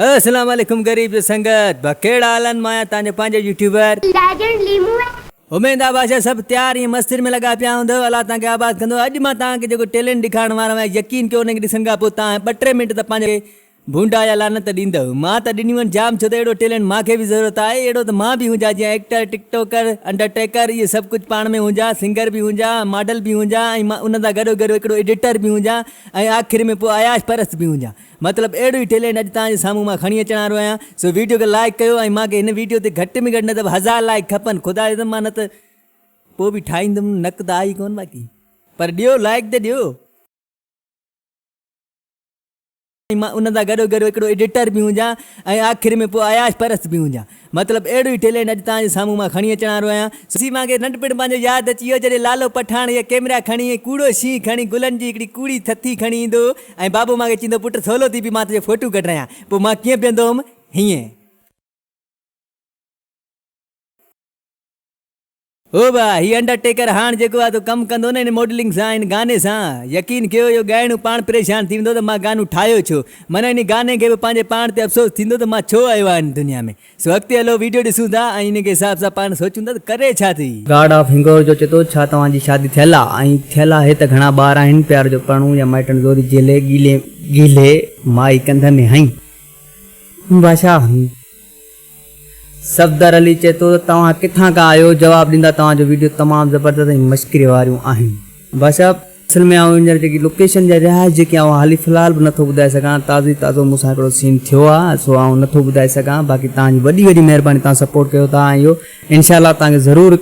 اسلام عليڪم غريب جو سنگت ڀا ڪهڙا حال آهن مان آهيان تهان جو پنهنجو يوٽيوبر. ليجنڊ ليمون اي. اميد آ بادشاھ صاحب تيار ائين مستين ۾ لڳا پيا هوندؤ الله توهان کي آباد ڪندو اڄ مان توهان کي جيڪو ٽيلينٽ ڏيکارڻ وارو آهيان يقين ڪيو انهي کي ڏسڻ کان پوء توهان ٻه ٽي منٽ ته پنهنجو کي ڀونڊا يا لعنت ڏيندؤ مان ته ڏنيون آهن جام ڇو ته اهڙو ٽيلينٽ مان کي به ضرورت آهي اهڙو ته مان به هونجان جيئن actor TikToker undertaker اهي سڀ ڪجهه پاڻ ۾ هونجان سنگر به هونجان ماڊل به هونجان ۽ مان انهن سان گڏو گڏ هڪڙو ايڊيٽر به هونجان ۽ آخر ۾ پوء عياش پرست به هونجان. مطلب اهڙو ئي ٽيلينٽ اڄ توهان جي سامهون مان کڻي اچڻ وارو آهيان سو ويڊيو کي لائيڪ ڪيو ۽ مان کي هن ويڊيو تي گهٽ ۾ گهٽ نه ته به هزار لائيڪ کپن خدا جو قسم مان نه ته ڪو به ٺاهيندم نڪ ته آهي ڪون باقي پر ڏيو لائيڪ ته ڏيو ۽ مان ان سان گڏو گڏ هڪڙو ايڊيٽر به هجان ۽ آخر ۾ پوء عياش پرست به هجان مطلب اهڙو ئي ٽيلينٽ اڄ توهان جي سامهون مان کڻي اچڻ وارو آهيان. سسي مان کي ننڍپڻ پنهنجو ياد اچي ويو جڏهن لالو پٺاڻ هيء ڪيمرا کڻي ۽ ڪوڙو شينهن کڻي گلن جي هڪڙي ڪوڙي ٿٿي کڻي ايندو ۽ بابو مان کي چيندو پٽ سولو ٿي بيهه مان تنهنجو فوٽو ڪڍرايان پوء مان ڪيئن بيهندو هوم هيئن هو به آهي هي انڊر ٽيڪر هاڻ جيڪو آهي تو ڪم ڪندو نه هن ماڊلنگ سان هن گاني سان يقين ڪيو اهو ڳائڻو پاڻ پريشان ٿي ويندو ته مان گانو ٺاهيو ڇو معنيٰ هن گاني کي به پنهنجي پاڻ تي افسوس ٿيندو ته مان ڇو آيو آهيان هن دنيا ۾ سو اڳتي هلو ويڊيو ڏسون ٿا ۽ انهي کي حساب سان پاڻ سوچون ٿا ته ڪري ڇا ٿي. گاڊ آف هنگور جو چي ٿو ڇا توهان جي شادي ٿيل آ ۽ ٿيل آهي ته گهڻا ٻار آهن پيار جو پرڻون يا مائٽن زوري جهلي گيلي گيلي مائي ڪنڌ ۾ هنئي بادشاهه صفدر علي چئي ٿو ته توهان ڪٿان کان آهيو جواب ڏيندا توهان جو ويڊيو تمام زبردست ۽ مشڪري واريون آهن باشا. اصل ۾ آئون هينئر جيڪي لوڪيشن جا رهائش جيڪي آئون حالي في الحال به نٿو ٻڌائي سگهان تازو ئي تازو مون سان هڪڙو سين ٿيو آ سو آئون نٿو ٻڌائي سگهان باقي توهان جي وڏي وڏي مهرباني توهان سپورٽ ڪيو ٿا ۽ اهو انشاء الله توهان کي ضرور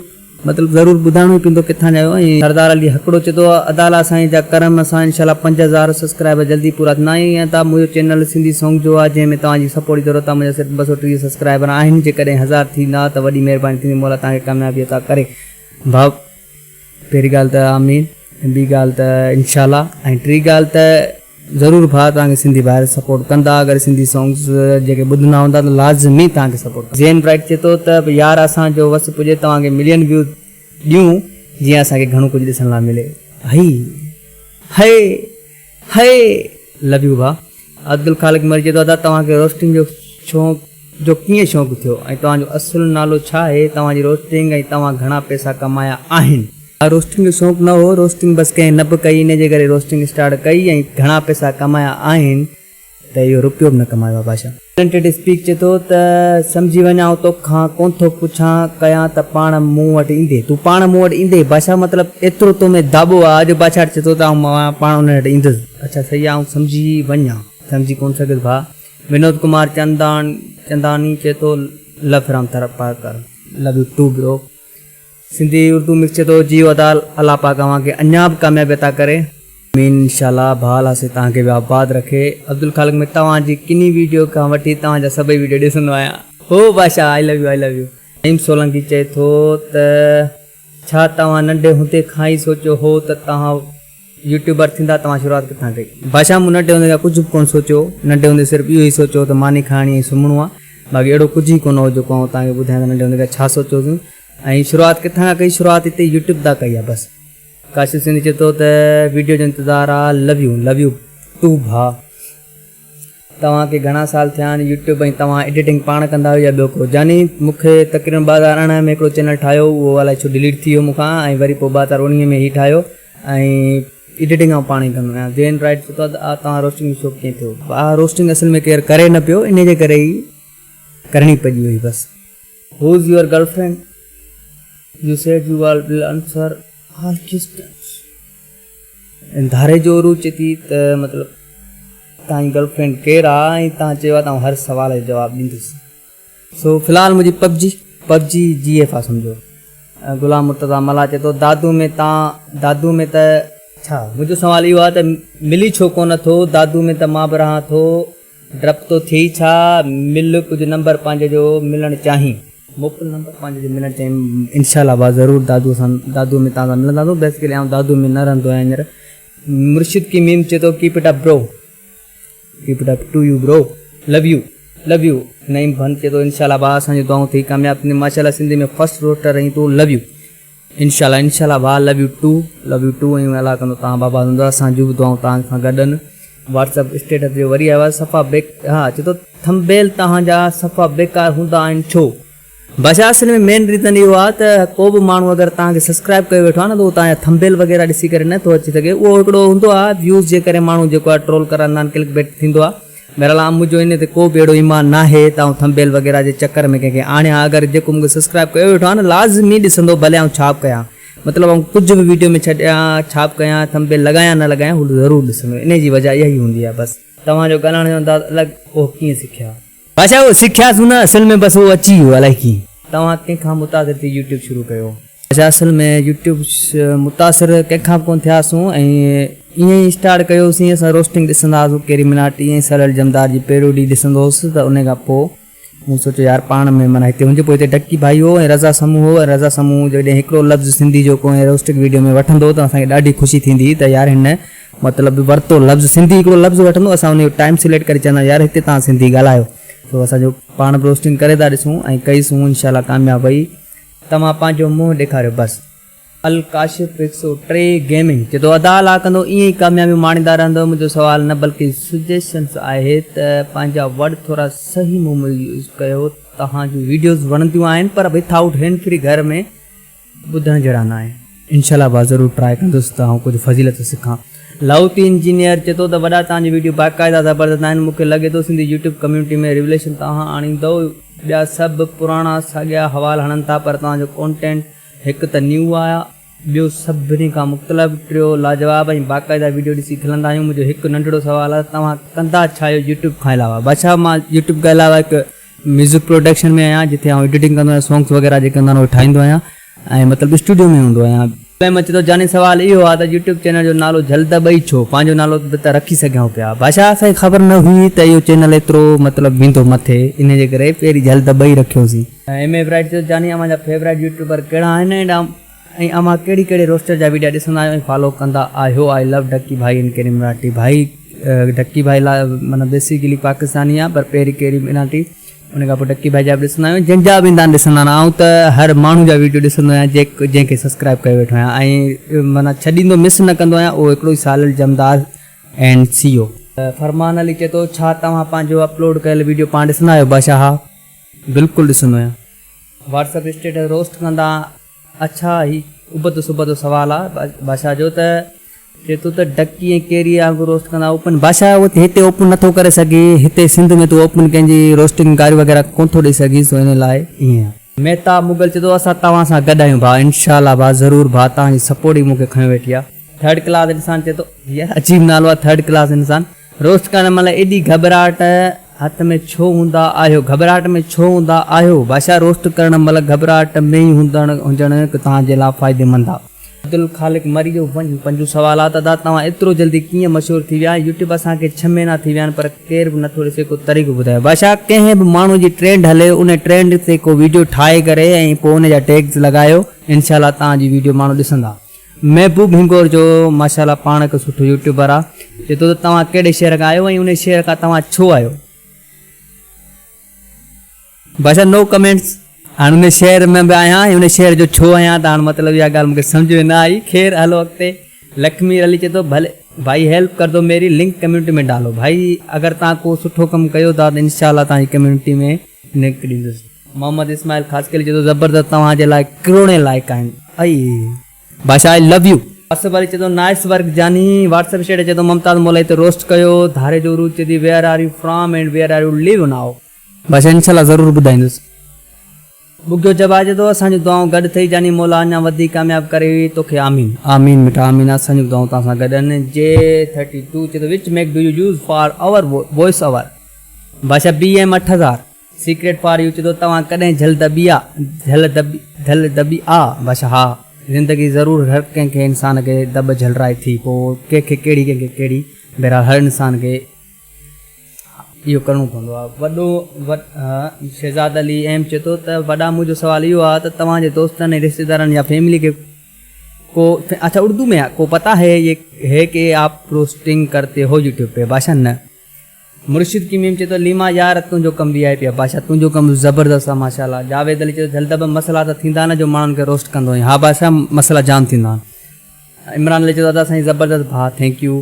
مطلب ضرور ٻڌائڻو ئي پيندو ڪٿان جا آهيو ۽ سردار علي هڪڙو چتو ادالا سائين جا ڪرم سان انشاء الله پنج هزار سسڪرائبر جلدي پورا ٿيندا ۽ ائين ته منهنجو چينل سنڌي سونگ جو آهي جنهن ۾ توهان جي سپورٽ جي ضرورت آهي منهنجا صرف ٻه سؤ ٽيهه سسڪرائبر آهن جيڪڏهن هزار ٿيندا ته وڏي مهرباني ٿيندي مولا توهان کي ڪاميابي عطا ڪري ڀائو پهرين ڳالهه ته آمين ٻي ڳالهه ته انشاء الله ۽ ٽي ڳالهه ته ضرور ڀاء توهان کي سنڌي ڀائر سپورٽ ڪندا اگر سنڌي سانگز جيڪي ٻڌندا هوندا ته لازمي توهان کي سپورٽ ڪندا. زين برائيٽ چئي ٿو ته يار اسان جو وس پڄي توهان کي ملين ويوز ڏيون جيئن اسان کي گهڻو ڪجهه ڏسڻ لا ملي هي هي هي لو يو ڀاء. عبدالخالق مير چئي ٿو ادا توهان کي روسٽنگ جو شونق جو ڪيئن شونق ٿيو ۽ توهان جو اصل نالو ڇا آهي توهان جي روسٽنگ ۽ توهان گهڻا پئسا ڪمايا آهن. ها روسٽنگ جو شونق نه هو روسٽنگ بس ڪنهن نه به ڪئي انهي جي ڪري روسٽنگ اسٽارٽ ڪئي ۽ گهڻا پئسا ڪمايا آهن ته اهو روپيو به نه ڪمايو آهي بادشاهه. ٽيلنٽيڊ اسپيڪ چئي ٿو ته سمجهي وڃ آئون تو کان ڪون ٿو پڇان ڪيان ته پاڻ مون وٽ ايندي تون پاڻ مون وٽ ايندي بادشاهه مطلب ايترو تو ۾ داٻو آهي جو بادشاهه چئي ٿو ته آئون پاڻ انهن وٽ ايندس اڇا سياح آئون سمجهي وڃ آئون سمجهي ڪون سگهيس ڀاء. ونود ڪمار چنداڻ چنداڻي چئي ٿو لف Ram Tharparkar love you too bro Sindhi Urdu mix چئي ٿو جيو ادا الله پاڪ اوهان کي اڃا به ڪاميابي عطا ڪري. آمين انشاء الله ڀاء الله سائين توهان کي به آباد رکي عبدالخالق ۾ توهان جي ڪني ويڊيو کان وٺي توهان جا سڀئي ويڊيو ڏسندو آهيان هو بادشاهه I love you I love you Naeem Solangi چئي ٿو ته. ڇا توهان ننڍي هوندي کان ئي سوچيو هو ته توهان يوٽيوبر ٿيندا توهان شروعات ڪٿان ڪئي؟ بادشاهه مون ننڍي هوندي کان ڪجهه به ڪونه سوچيو هو ننڍي هوندي صرف اهو ئي سوچيو هو ته ماني کائڻي ۽ سمهڻو آهي باقي اهڙو ڪجهه ئي ڪونه هو جيڪو آئون توهان کي ٻڌايان ته ننڍي هوندي کان ڇا سوچيو هوسين ۽ شروعات ڪٿان کان ڪئي شروعات هتي يوٽيوب تان ڪئي آهي بس ڪاشف سنڌي چئي ٿو ته ويڊيو جو انتظار آ love you love you too ڀاء. توهان کي گهڻا سال ٿيا آهن يوٽيوب ۽ توهان ايڊيٽنگ پاڻ ڪندا آهيو يا ٻيو ڪو؟ جاني، مون کي تقريبن ٻه هزار ارڙهن ۾ هڪڙو چينل ٺاهيو هو اهو الائي ڇو ڊليٽ ٿي ويو مون کان ۽ وري پوء ٻه هزار اڻويهه ۾ هي ٺاهيو ۽ ايڊيٽنگ آئون پاڻ ئي ڪندو آهيان زين رائيٽ پڇيو ته آء توهان روسٽنگ جو شوق ڪيئن ٿيو؟ آء روسٽنگ اصل ۾ ڪير ڪري نه پيو انهي جي ڪري ئي ڪرڻي پڄي وئي بس. Who's your girlfriend you said you all will answer all questions. ڌاري جو عروج چئي ٿي ته مطلب توهان جي گرل فرينڊ ڪير آ ۽ توهان چيو آ ته آئون هر سوال جو جواب ڏيندس سو في الحال منهنجي پبجي پبجي جي ايف آ سمجهو غلام مرتضيٰ ملاح چئي ٿو دادو ۾ تان دادو ۾ ته ڇا منهنجو سوال اهو آ ته ملي ڇو ڪونه ٿو دادو ۾ ته مان به رهان ٿو ڊپ ٿو ٿئي ڇا؟ مل ڪجهه نمبر پنهنجي جو ملڻ چاهين. مڪل نمبر پنهنجي جو ملڻ چاهين. انشاء الله ڀاء ضرور دادوء سان دادوء ۾ تان سان ملنداسون بيسڪلي آئون دادوء ۾ نه رهندو آهيان هينئر مرشد ڪي ميم چي ٿو keep it up bro keep it up to you bro love you love you Naeem بند چي ٿو انشاء الله ڀاء اسان جون دعائون ٿئي ڪامياب ٿينديون ماشاء الله سنڌي ۾ فرسٽ روسٽر رهين تون لو يو. انشاء الله انشاء الله ڀاء love you too love you too ۽ الله ڪندو توهان آباد هوندو اسان جون به دعائون توهان سان گڏ آهن واٽس اپ اسٽيٽس جو وري آيو آهي صفا بيڪ ها چي ٿو ٿمبيل توهان جا صفا بيڪار هوندا آهن ڇو بادشاهه اصل ۾ مين ريزن اهو آهي ته ڪو به ماڻهو اگر توهان کي سبسڪرائب ڪيو ويٺو آهي نه ته اهو توهان جا ٿمبيل وغيره ڏسي ڪري نه ٿو اچي سگهي اهو هڪڙو هوندو آهي ويوز جي ڪري ماڻهو جيڪو آهي ٽرول ڪرندا آهن ڪلڪ بيٽ ٿيندو آهي بهرحال عام منهنجو انهي تي ڪو به اهڙو ايمان ناهي ته آئون ٿمبيل وغيره جي چڪر ۾ ڪنهن کي آڻيان اگر جيڪو مونکي سسڪرائب ڪيو ويٺو آهي نه لازمي ڏسندو ڀلي آئون ڇا به ڪيان مطلب آئون ڪجهه به ويڊيو ۾ ڇڏيان ڇا به ڪيان ٿمبيل لڳايان نه لڳايان هو ضرور ڏسندو انهي جي وجهه اها ئي هوندي آهي بس. توهان جو ڳالهائڻ جو انداز الڳ اهو ڪيئن سکيا. بادشاهه اهو سکيا سون نه اصل ۾ بس اهو اچي ويو الائي ڪيئن. توهان ڪنهن کان متاثر ٿي يوٽيوب شروع ڪيو؟ اسين اصل ۾ يوٽيوب متاثر ڪنهن کان به ڪونه ٿيا هئاسون ۽ ائين ئي اسٽارٽ ڪيو هوسين اسان روسٽنگ ڏسندا هئاسون ڪيري مناٽي ۽ سرل جمدار جي پيروڊي ڏسندو هوس ته انهي کان پوء مون سوچيو يار پاڻ ۾ معنيٰ هتي هجي پوء هتي ڊڪي ڀائي هو ۽ رضا سمون هو ۽ رضا سمون جڏهن هڪڙو لفظ سنڌي جو ڪنهن روسٽنگ وڊيو ۾ وٺندو ته اسان کي ڏاڍي خوشي ٿيندي هئي ته يار هن مطلب ورتو لفظ سنڌي هڪڙو لفظ وٺندو اسان انهي جو ٽائيم سليڪٽ ڪري چونداسين يار هتي توهان سنڌي ڳالهايو سو اسان جو پاڻ به روسٽنگ ڪري ٿا ڏسون ۽ ڪئي سون انشاء الله ڪامياب وئي توهان پنهنجو منهن ڏيکاريو بس. الڪاشف هڪ سؤ ٽي گيمنگ چي ٿو ادا الله ڪندو ائين ئي ڪاميابيون ماڻيندا رهندؤ منهنجو سوال نه بلڪه سجيشنس آهي ته پنهنجا ورڊ ٿورا صحيح مون ۾ يوز ڪيو توهان جون ويڊيوز وڻنديون آهن پر وٿ آئوٽ هينڊ فري گهر ۾ ٻڌڻ جهڙا نه آهن. انشاء الله ڀاء ضرور ٽرائي ڪندس ته آئون ڪجهه فضيلت سکان. لاهوتي انجنيئر چئي ٿو ته وڏا توهان جون ويڊيو باقاعده زبردست آهن مون کي لڳي ٿو سنڌي يوٽيوب ڪميونٽي ۾ ريوليشن توهان آڻيندؤ ٻيا سڀ پراڻا ساڳيا حوال هڻن ٿا پر توهان جو ڪونٽينٽ هڪ ته نيو آهي ٻيو سڀني کان مختلف ٽيو لاجواب ۽ باقاعده ويڊيو ڏسي کلندا آهيون منهنجو هڪ ننڍڙو سوال آهي ته توهان ڪندا ڇا آهيو يوٽيوب کان علاوه. بادشاهه مان يوٽيوب کان علاوه هڪ. ميوزڪ پروڊڪشن ۾ آهيان جتي آئون ايڊيٽنگ ڪندو آهيان سونگس وغيره جيڪي هوندا آهن اهي ٺاهيندو آهيان ۽ مطلب اسٽوڊيو ۾ هوندو آهيان. ڪليم اچي ٿو جاني سوال اهو آهي ته يوٽيوب چينل جو نالو جهل ته ٻئي ڇو پنهنجو نالو به ته رکي سگهيون پيا بادشاهه اسان کي خبر نه هئي ته اهو چينل ايترو مطلب ويندو مٿي انهي جي ڪري پهرين جهل ته ٻئي رکيوسين. ايم اي برائيٽ چيو ته جاني اوهان جا فيورائيٽ يوٽيوبر ڪهڙا آهن ۽ ۽ اوهان ڪهڙي ڪهڙي روسٽر جا ويڊيا ڏسندا آهيو ۽ فالو ڪندا آهيو آء لو ڍڪي ڀائي ان ڪيري مراٺي ڀائي ڍڪي ڀائي لا معنيٰ بيسيڪلي پاڪستاني آ پر پهري ڪيري مراٺي ان کان پوء ڍڪي ڀائي جا به ڏسندا آهيون جن جا به اندا ڏسندا نه آئون ته هر ماڻهو جا ويڊيو ڏسندو آهيان جيڪ جنهن کي سبسڪرائب ڪيو ويٺو آهيان ۽ معنيٰ ڇڏيندو مس نه ڪندو آهيان اهو هڪڙو ئي سالل جمدار اينڊ سي او. فرمان علي چئي ٿو ڇا توهان پنهنجو اپلوڊ ڪيل ويڊيو پاڻ ڏسندا آهيو باشاها بلڪل ڏسندو آهيان. واٽس اپ اسٽيٽس روسٽ ڪندا اڇا هي ابتو سبتو سوال آ بادشاهه جو ته چي تو ته ڊڪي ۽ ڪيري وانگر روسٽ ڪندا اوپن بادشاهه اهو ته هتي اوپن نٿو ڪري سگهين هتي سنڌ ۾ تون اوپن ڪنهن جي روسٽنگ گاري وغيره ڪون ٿو ڏئي سگهين سو ان لاء ائين آ. مهتاب مغل چي ٿو اسان توهان سان گڏ آهيون ڀاء انشاء الله ڀاء ضرور ڀاء توهان جي سپورٽ ئي مون کي کنيو ويٺي آ. ٿرڊ ڪلاس انسان چئي ٿو، يار عجيب نالو آهي ٿرڊ ڪلاس انسان، روسٽ ڪرڻ مهل ايڏي گهٻراهٽ هٿ ۾ ڇو هوندا آهيو، گهٻراهٽ ۾ ڇو هوندا آهيو، بادشاهه روسٽ ڪرڻ مهل گهٻراهٽ ۾ ئي هجڻ توهان جي لاء فائديمند آهي. عبدالخالق مريو ونجهه پنجون سوال آهي ته ادا توهان ايترو جلدي ڪيئن مشهور ٿي ويا، يوٽيوب اسان کي ڇهه مهينا ٿي ويا آهن پر ڪير به نٿو ڏسي ڪو طريقو ٻڌايو بادشاهه ڪنهن به ماڻهو جي ٽرينڊ هلي ان ٽرينڊ تي ڪو ويڊيو ٺاهي ڪري ۽ پوء ان جا ٽيگز لڳايو انشاء الله توهان جي ويڊيو ماڻهو ڏسندا. محبوب هنگور جو ماشاء الله پاڻ هڪ سٺو يوٽيوبر آ چي ٿو ته توهان ڪهڙي شهر کان آهيو ۽ انهي شهر کان توهان ڇو آهيو. باشا نو ڪمينٽس هاڻ انهي شهر ۾ به آهيان ۽ انهي شهر جو ڇو آهيان ته هاڻ مطلب اها ڳالهه مون کي سمجهه ۾ نه آئي خير هلو اڳتي لکمير علي چي ٿو ڀلي ڀائي هيلپ ڪر دو ميري لنڪ ڪميونٽي ۾ ڊالو ڀائي اگر توهان ڪو سٺو ڪم ڪيو ٿا ته انشاء الله توهان جي ڪميونٽي ۾ نڪ ڏيندس. محمد اسماعيل خاصخيلي چيو ته زبردست توهان جي لاء ڪروڙين لائق آهن اي باشا I love you. Asif Ali چئي ٿو نائس ورڪ جاني. واٽس اپ شيڊ چئي ٿو ممتاز مولائي تي روسٽ ڪيو. ڌاري جو عروج چئي ٿي where are you from and where are you live now. باشا انشاء الله ضرور ٻڌائيندس. ٻگهيو جبا چئي ٿو اسان جون دعائون گڏ اٿئي جاني مولا اڃان وڌيڪ ڪامياب ڪري توکي آمين. آمين مٺا آمين اسان جون به دعائون توهان سان گڏ آهن جي ٿرٽي ٽو چئي ٿو which mic do you use for your voice over. بادشاهه بي ايم اٺ هزار سيڪريٽ فار يو چتو توهان ڪڏهن جهل دٻي آ جهل دٻي جهل دٻي آ بادشاهه ها زندگي ضرور هر ڪنهن کي انسان کي دٻ جهلرائي ٿي پو ڪنهن کي ڪهڙي ڪنهن کي ڪهڙي بهرحال هر انسان کي اهو ڪرڻو پوندو آ وڏو شهزاد علي ايم چتو ته وڏا منهنجو سوال اهو آ ته توهان جي دوستن ۽ رشتيدارن يا فيملي کي ڪو اڇا اردو ۾ آ ڪو پتا هي هي ڪي آپ پروسٽنگ ڪرتي هو يوٽيوب پي بادشاهه نه مرشد ڪيميم چئي ٿو ليما يار تنهنجو ڪم وي آء پي آ بادشاهه تنهنجو ڪم زبردست آ ماشاء الله جاويد علي چئي ٿو جلدبه مسئلا ته ٿيندا نه جو ماڻهن کي روسٽ ڪندو هئين ها بادشاهه مسئلا جام ٿيندا آهن عمران علي چئي ٿو ادا سائين زبردست ڀاء ٿينڪ يو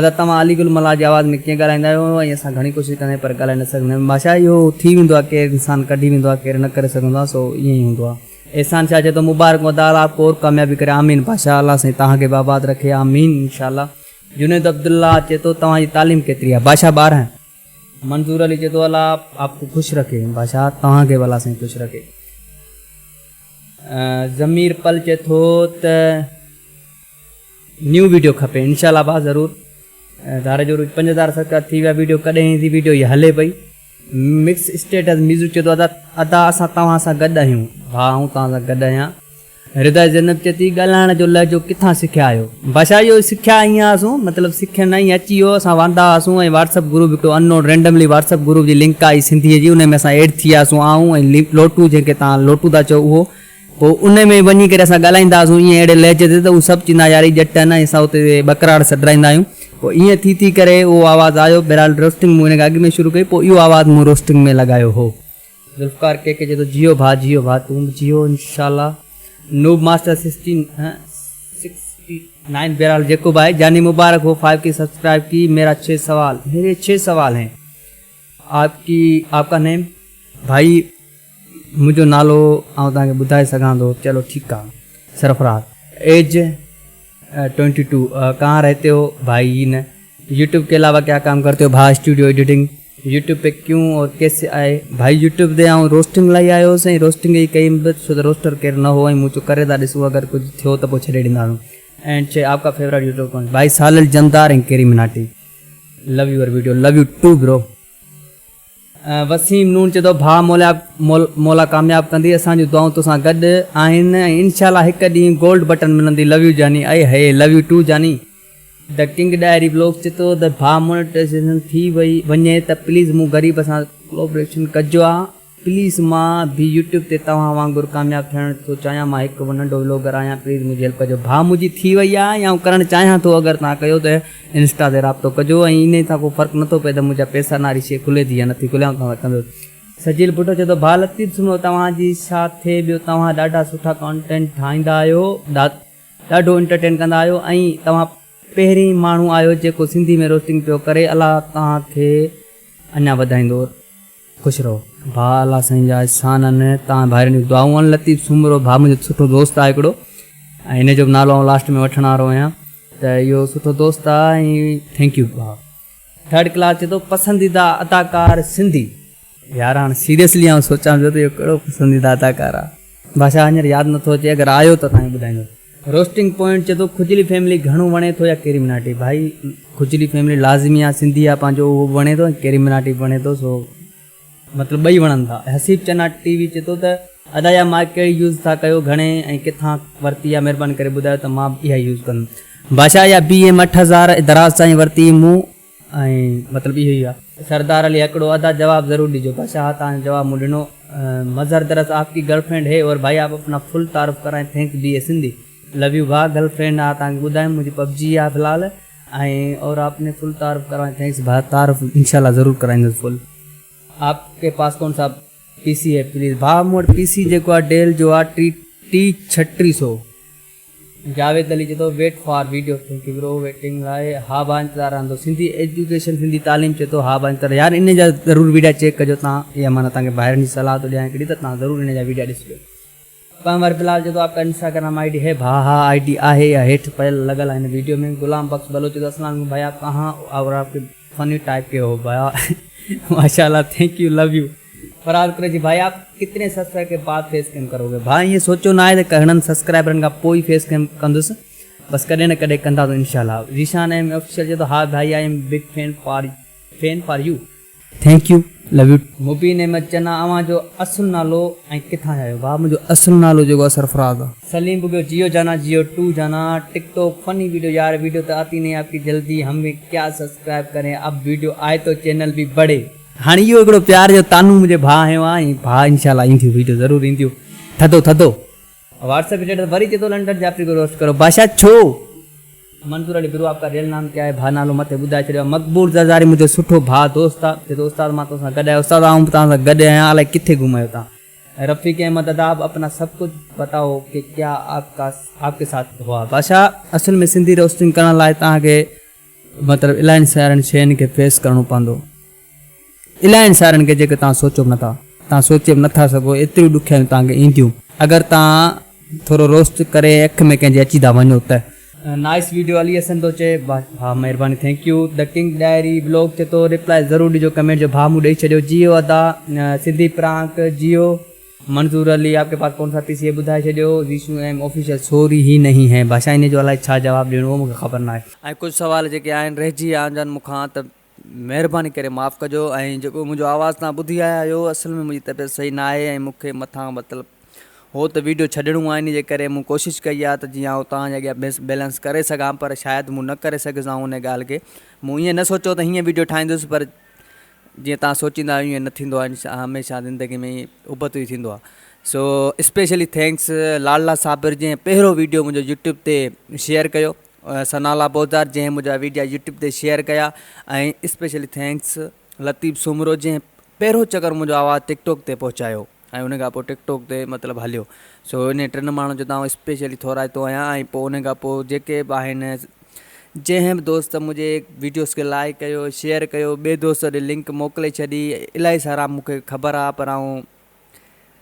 ادا توهان علي گل ملاح جي آواز ۾ ڪيئن ڳالهائيندا آهيو ۽ اسان گهڻي ڪوشش ڪندا آهيون پر ڳالهائي نه سگهندا آهيون بادشاهه اهو ٿي ويندو آهي ڪير انسان ڪڍي ويندو آهي ڪير نه ڪري سگهندو آهي سو ائين ئي هوندو آهي احسان شاهه چئي ٿو مبارڪون ادا الله آپ ڪو اور ڪاميابي ڪري آمين بادشاهه الله سائين توهان کي به آباد رکي آمين انشاء الله جنيد عبدالله چئي ٿو توهان جي تعليم ڪيتري آهي؟ بادشاهه ٻارهن. منظور علي چئي ٿو الله آپ ڪو خوش رکي. بادشاهه توهان کي به الله سائين خوش رکي. ضمير پل چئي ٿو ته نيون ويڊيو کپي انشاء الله ڀاء ضرور. ڌاري جوروج پنج هزار سبسڪرائيب ٿي ويا ويڊيو ڪڏهن ايندي ويڊيو هي هلي پئي. مڪس اسٽيٽس ميزو چيو ته ادا اسان توهان سان گڏ آهيون. ڀاء آئون توهان سان گڏ آهيان. رضا زينب چئي ٿي ڳالهائڻ جو لهجو ڪٿان سکيا آهيو؟ بادشاهه اهو سکيا ائين هئاسون مطلب سکيا نه ائين اچي ويو اسان واندا هئاسون ۽ واٽس اپ گروپ هڪڙو ان نون رينڊملي واٽس اپ گروپ جي لنڪ آئي سنڌي جي انهي ۾ اسان ايڊ ٿي وياسون آئون ۽ لوٽو جنهن کي توهان لوٽو ٿا چئو اهو پوء انهي ۾ وڃي ڪري اسان ڳالهائيندا هئاسون ائين اهڙي لهجي تي ته هو سڀ چوندا ها يار هي ڄٽ آهن ۽ اسان اتي ٻڪراڙ سڏرائيندا آهيون. پوء ائين ٿي ٿي ڪري اهو آواز آيو. بهرحال روسٽنگ مون ان کان اڳ ۾ شروع ڪئي پوء اهو آواز مون روسٽنگ ۾ لڳايو هو. ذوالفقار ڪي ڪي چئي ٿو جيئو ڀاء جيئو ڀاء تون به جيئو انشاء الله noob master sixteen sixty nine بهرحال جيڪو به آهي جاني مبارڪ هو فائيو ڪي سبسڪرائيب ڪي ميرا ڇهه سوال ميري ڇهه سوال هين. آپ ڪي آپ ڪا نيم ڀائي منهنجو نالو آئون توهان کي ٻڌائي سگهان ٿو چلو ٺيڪ آ سرفراز ايج ٽوئنٽي ٽو ڪهان رهتي هو ڀائي هي نه يوٽيوب ڪي علاوه ڪيا ڪام ڪرتي هو ڀاء اسٽوڊيو ايڊيٽنگ يوٽيوب پي ڪيون اور ڪيسي آئي ڀائي يوٽيوب تي آئون روسٽنگ لاء آيو هوس ۽ روسٽنگ ئي ڪئي بس ڇو ته روسٽر ڪير نه هو ۽ مون چيو ڪري ٿا ڏسون اگر ڪجهه ٿيو ته پوء ڇڏي ڏينداسون اينڊ چي آپ ڪا فيورٽ يوٽيوب ڪون ڀائي سالل جمدار ۽ ڪيري مناٽي love your video love you too bro. Waseem نون چيو ته ڀاء مولا مولا ڪامياب ڪندي اسان جون دعائون توسان گڏ آهن ۽ انشاء الله هڪ ڏينهن گولڊ بٽن ملندي لو يو جاني اي هئي لو يو ٽو جاني. The King Diary Vlogs چي ٿو ته ڀاء مونيٽائيزيشن ٿي وئي وڃي ته پليز مون غريب سان ڪولابريشن ڪجو ها. پليز مان به يوٽيوب تي توهان وانگر ڪامياب ٿيڻ ٿو چاهيان مان هڪ ننڍو ولوگر آهيان پليز منهنجي هيلپ ڪجو ڀا منهنجي ٿي وئي آهي ۽ آئون ڪرڻ چاهيان ٿو اگر توهان ڪيو ته انسٽا تي رابطو ڪجو ۽ انهي سان ڪو فرق نٿو پئي ته منهنجا پئسا ناري شي کلي ٿي يا نٿي کلي آئون توهان سان ڪندس. سجيل ڀٽو چئي ٿو ڀا لطيف سنڌو توهان جي ڇا ٿئي ٻيو توهان ڏاڍا سٺا ڪانٽينٽ ٺاهيندا آهيو ڏاڍو انٽرٽين ڪندا آهيو ۽ توهان پهرين ماڻهو آهيو جيڪو سنڌي ۾ روسٽنگ پيو ڪري الله توهان کي اڃا وڌائيندو. خوش رهو ڀاء الله سائين جا احسان آهن توهان ڀائرن جون دعائون آهن لطيف سومرو ڀاء منهنجو سٺو دوست آهي هڪڙو ۽ هن جو به نالو آئون لاسٽ ۾ وٺڻ وارو آهيان ته اهو سٺو دوست آهي ۽ ٿينڪ يو ڀاء. ٿرڊ ڪلاس چئي ٿو پسنديده اداڪار سنڌي يار هاڻ سيريسلي آئون سوچان پيو ته اهو ڪهڙو پسنديده اداڪار آهي بادشاهه هينئر ياد نٿو اچي اگر آيو ته توهان کي ٻڌائيندس. روسٽنگ پوائنٽ چئي ٿو کجلي فيملي گهڻو وڻي ٿو يا ڪيري مناٽي ڀائي کجلي فيملي لازمي آ سنڌي آ پنهنجو اهو به وڻي ٿو ۽ ڪيري مناٽي به وڻي ٿو سو مطلب ٻئي وڻن ٿا حسيب چنا ٽي وي چئي ٿو ته ادا اها مائڪ ڪهڙي يوز ٿا ڪيو گهڻي ۽ ڪٿان ورتي آ مهرباني ڪري ٻڌايو ته مان به اها ئي يوز ڪندم بادشاهه اها بي ايم اٺ هزار دراز سائين ورتي مون ۽ مطلب اهو ئي آ. سردار علي هڪڙو ادا جواب ضرور ڏجو. بادشاهه ها توهان جو جواب مون ڏنو. مظهر درس آپ ڪي گرل فرينڊ هي اور ڀائي آپ اپنا فل تعارف ڪرائين thank B A Sindhi love you ڀاء گرل فرينڊ ها توهان کي ٻڌايم منهنجي پبجي آ فلحال ۽ اور آپ ني فل تعارف ڪرائين ٿينڪس ڀاء تعارف انشاء الله ضرور ڪرائيندس فل آپ ڪي پاس ڪون سا پي سي هي پليز ڀاء مون وٽ پي سي جيڪو آ ڊيل جو آ ٽي ٽي ڇهه ٽي سو. جاويد علي چئي ٿو wait for video thank you bro waiting لاء ها ڀا انتظار رهندو سنڌي ايجوڪيشن سنڌي تعليم چئي ٿو ها ڀا انتظار يار انهي جا ضرور ويڊيا چيڪ ڪجو تان اها مان توهان کي ڀائرن جي صلاح ٿو ڏيان هڪڙي ته تان ضرور انهي جا ويڊيا ڏسجو پنهور بلال چئي ٿو آپڪا انسٽاگرام آئي ڊي هي ڀا ها آئي ڊي آهي اها هيٺ پيل لڳل آهي هن ويڊيو ۾ غلام بخش بلوچ چئي ٿو اسلام عليڪم ڀائي آپ ڪهان هو اور آپڪي فني ٽائپ ڪي هو ڀا ماشاء الله thank you love you. Farhan Qureshi ڀائي آپ ڪتني سبسڪرائب ڪي بعد فيس ڪيم ڪرو گي ڀاء ائين سوچيو ناهي ته گهڻن سبسڪرائبرن کان پوء ئي فيس ڪيم ڪندس بس ڪڏهن نه ڪڏهن ڪنداسون انشاء الله ذيشان ايم آفيشل چئي ٿو ها ڀائي I am big fan for fan for you thank you love you too. Mubeen Ahmed Channa اوهان جو اصل نالو ۽ ڪٿان جا آهيو ڀاء منهنجو اصل نالو جيڪو آهي سرفراز آهي. سليم بگيو جيو جانا جيو ٽو جانا ٽڪ ٽوڪ فني ويڊيو يار ويڊيو تو آتي نهين آپڪي جلدي هم ڀي ڪيا سبسڪرائب ڪرين اب ويڊيو آئي تو چينل ڀي بڙهي. هاڻي اهو هڪڙو پيار جو طعنو منهنجي ڀاء هنيو آ ۽ ڀاء انشاء الله اينديون ويڊيو ضرور اينديون ٿڌو ٿڌو. واٽس اپ اسٽيٽس وري چي ٿو لنڊن جعفري کي روسٽ ڪرو بادشاھ ڇو؟ منظور علي برو آپڪا ريل نام ڪيا هي ڀاء نالو مٿي ٻڌائي ڇڏيو آ مقبول زرداري منهنجو سٺو ڀاء دوست آ چي ٿو استاد مان تو سان گڏ آهيان استاد آئون به توهان سان گڏ آهيان الائي ڪٿي گم آهيو توهان رفيق احمد ادا اب اپنا سب ڪجھ بتائو ڪي ڪيا آپڪا آپڪي ساٿ هئا بادشاھ اصل ۾ سنڌي روسٽنگ ڪرڻ لاء توهان کي مطلب الاهين سارين شين کي فيس ڪرڻو پوندو. الاهين سارين کي جيڪي توهان سوچو به نٿا. توهان سوچي به نٿا سگهو ايتريون ڏکيائيون توهان کي اينديون. اگر توهان ٿورو روسٽ ڪري اک ۾ ڪنهن جي اچي ٿا وڃو ته. نائس ويڊيو علي حسن ٿو چئي ڀا مهرباني thank you The King Diary Vlog چي ٿو ريپلائي ضرور ڏجو ڪمينٽ جو ڀا مون ڏئي ڇڏيو جيو ادا سنڌي پرانڪ جيو. منظور علي آپ ڪي پاس ڪون سا پي سي هي ٻڌائي ڇڏيو زيشو ايم آفيشل سوري هي نهين هي ڀاشا انهي جو الائي ڇا جواب ڏيڻو هو مون کي خبر ناهي ۽ ڪجهه سوال جيڪي آهن رهجي ويا آهنجن مون کان ته مهرباني ڪري معاف ڪجو ۽ جيڪو منهنجو آواز توهان ٻڌي آيا آهيو اصل ۾ منهنجي طبيعت صحيح ناهي ۽ مون کي مٿان مطلب هو ته ويڊيو ڇڏڻو آهي انهي جي ڪري مون ڪوشش ڪئي آهي ته جيئن آئون توهان جي اڳيان بيلنس ڪري سگهان پر شايد مون نه ڪري سگهيس آئون انهي ڳالهه کي مون ائين نه سوچيو ته هيئن ويڊيو ٺاهيندس پر جيئن توهان سوچيندا آهيو ايئن نه ٿيندو آهي هميشه زندگي ۾ ابتو ئي ٿيندو آهي سو اسپيشلي ٿينڪس لاڙلا صابر جنهن پهريون ويڊيو منهنجو يوٽيوب تي شيئر ڪيو سنالا بوزدار جنهن منهنجا ويڊيو يوٽيوب تي شيئر ڪيا ۽ اسپيشلي ٿينڪس لطيف سومرو جنهن پهريون چڪر منهنجو آواز ٽڪ ٽاڪ تي پهچايو ۽ ان کان پوء ٽڪ ٽوڪ تي مطلب هليو سو انهن ٽن ماڻهن جو تان اسپيشلي ٿورائتو آهيان ۽ پوء ان کان پوء جيڪي به آهن جنهن به دوست منهنجي ويڊيوز کي لائق ڪيو شيئر ڪيو ٻي دوست ڏي لنڪ موڪلي ڇڏي الائي سارا مونکي خبر آهي پر آئون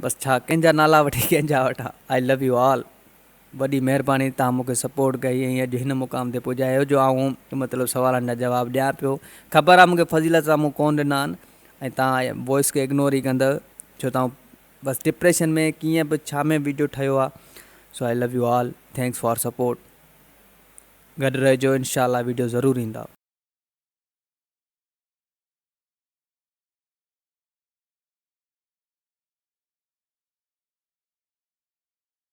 بس ڇا ڪنهن جا نالا وٺي ڪنهن جا وٺان آئي لو يو آل وڏي مهرباني توهان مونکي سپورٽ ڪئي ۽ اڄ هن مقام تي پڄايو جو آئون مطلب سوالن جا جواب ڏيان پيو خبر آ مونکي فضيلت سان مون ڪون ڏنا آهن ۽ توهان وائس کي اگنور ئي ڪندؤ ڇو توهان بس ڊپريشن ۾ ڪيئن به ڇا ۾ ويڊيو ٺهيو آ سو I love you all thanks for support گڏ رهجو انشاء الله ويڊيو ضرور ايندا.